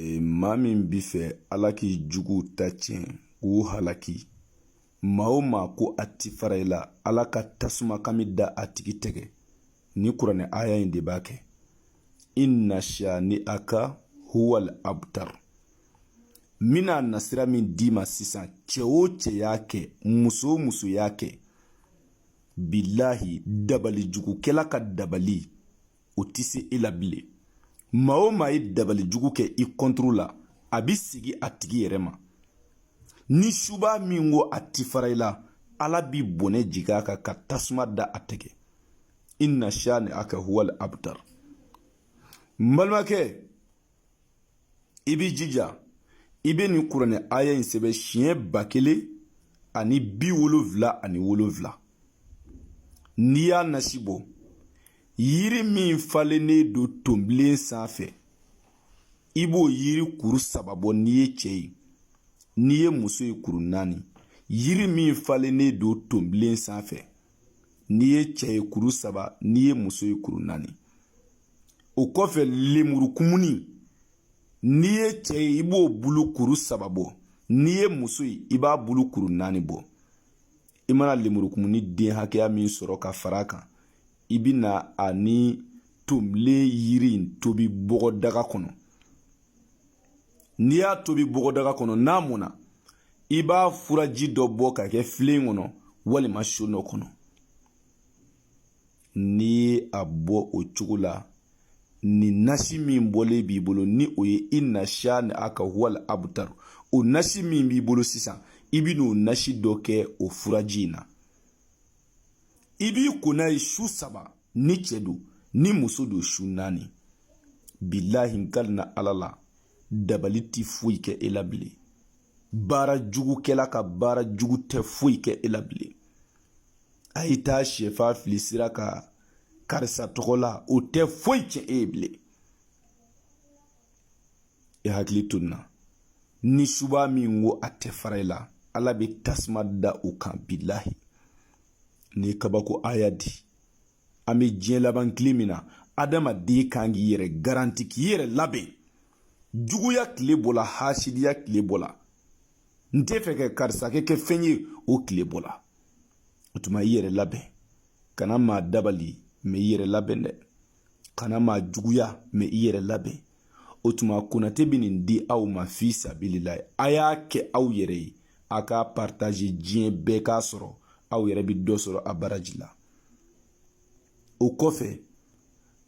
Ee, maa min bi fɛ ala k'i jugu ta tiɲɛ k'u halaki maa o maa ko a ti fara i la ala ka tasuma kami da a tigi tɛgɛ ni kuranɛ aya in de b'a kɛ inna shani aka huwal abtar n bina nasira min d'i ma sisan cɛ o cɛ y'a kɛ muso o muso y'a kɛ bilahi dabali jugukɛla ka dabali o tɛ se e la bilen maa o maa ye dabali jugu kɛ i kɔntoro la a bɛ segin a tigi yɛrɛ ma ni suba min ko a ti fara i la ala bi bɔnɛ jigin a kan ka tasuma da a tɛgɛ inna shani aka huwal abtar n balimakɛ i b'i jija i bɛ nin kuranɛ aya in sɛbɛn siɲɛ ba kelen ani bi wolonfila ani wolonfila n'i y'a nasi bɔ yiri min falennen don tonbilen sanfɛ i b'o yiri kuru saba bɔ n'i ye cɛ ye n'i ye muso ye kuru naani yiri min falennen don tonbilen sanfɛ n'i ye cɛ ye kuru saba n'i ye muso ye kuru naani o kɔfɛ lemurukumuni n'i ye cɛ ye i b'o bulu kuru saba bɔ n'i ye muso ye i b'a bulu kuru naani bɔ i mana lemurukumuni den hakɛya min sɔrɔ ka fara a kan i bi na a ni tonbilen yiri in tobi bɔgɔdaga kɔnɔ n'i y'a tobi bɔgɔdaga kɔnɔ n'a mɔna i b'a furaji dɔ bɔ ka kɛ filen kɔnɔ walima so dɔ kɔnɔ n'i ye a bɔ o cogo la ni nasi min bɔlen b'i bolo ni o ye inna shani aka huwal abtar o nasi min b'i bolo sisan i bi n'o nasi dɔ kɛ o furaji in na i b'i ko n'a ye su saba ni cɛ don ni muso don su naani bilahi n kalina ala la dabali ti foyi kɛ e la bilen baara jugukɛla ka baara jugu tɛ foyi kɛ e la bilen a yi taa sɛfan fili sira kan karisa tɔgɔ la o tɛ foyi cɛn e ye bilen e hakili to nin na ni suba min ko a tɛ fara i la ala bɛ tasuma da o kan bilahi nin kabako aya di an bɛ diɲɛ laban tile min na adamaden kan k'i yɛrɛ garanti k'i yɛrɛ labɛn juguya tile bɔla hasidiya tile bɔla n tɛ fɛ ka karisakɛ kɛ fɛn ye o tile bɔla o tuma i yɛrɛ labɛn kana maa dabali mɛ i yɛrɛ labɛn dɛ kana maa juguya mɛ i yɛrɛ labɛn o tuma konate bɛ nin di aw ma fi sabililahi a y'a kɛ aw yɛrɛ ye a k'a partaze diɲɛ bɛɛ k'a sɔrɔ aw yɛrɛ bɛ dɔ sɔrɔ a baraji la o kɔfɛ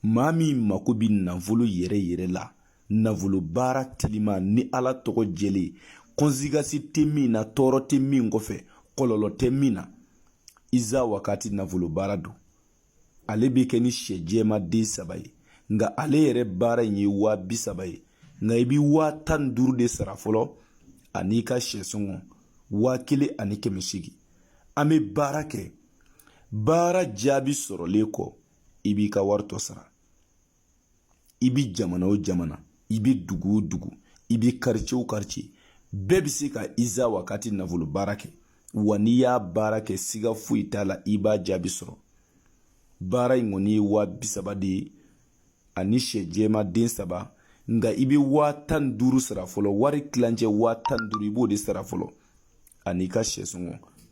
maa min mako bɛ nafolo yɛrɛ yɛrɛ la nafolobaara telima ni ala tɔgɔ jɛlen kɔnsigasi tɛ min na tɔɔrɔ tɛ min kɔfɛ kɔlɔlɔ tɛ min na iza wakati nafolobaara don ale bɛ kɛ ni sɛ jɛma den saba ye nka ale yɛrɛ baara in ye waa bi saba ye nka i bɛ waa tan ni duuru de sara fɔlɔ an'i ka sɛ sɔngɔ waa kelen ani kɛmɛ seegin an bɛ baara kɛ baara jaabi sɔrɔlen kɔ i b'i ka wari tɔ sara i bi jamana o jamana i bi dugu o dugu i bi karice o karice bɛɛ bi se ka iza wakati nafolo baara kɛ wa n'i y'a baara kɛ siga foyi t'a la i b'a jaabi sɔrɔ baara in kɔni ye waa bi saba de ye ani sɛ jɛma den saba nka i bɛ waa tan ni duuru sara fɔlɔ wari tilancɛ waa tan ni duuru i b'o de sara fɔlɔ ani i ka sɛ sɔngɔ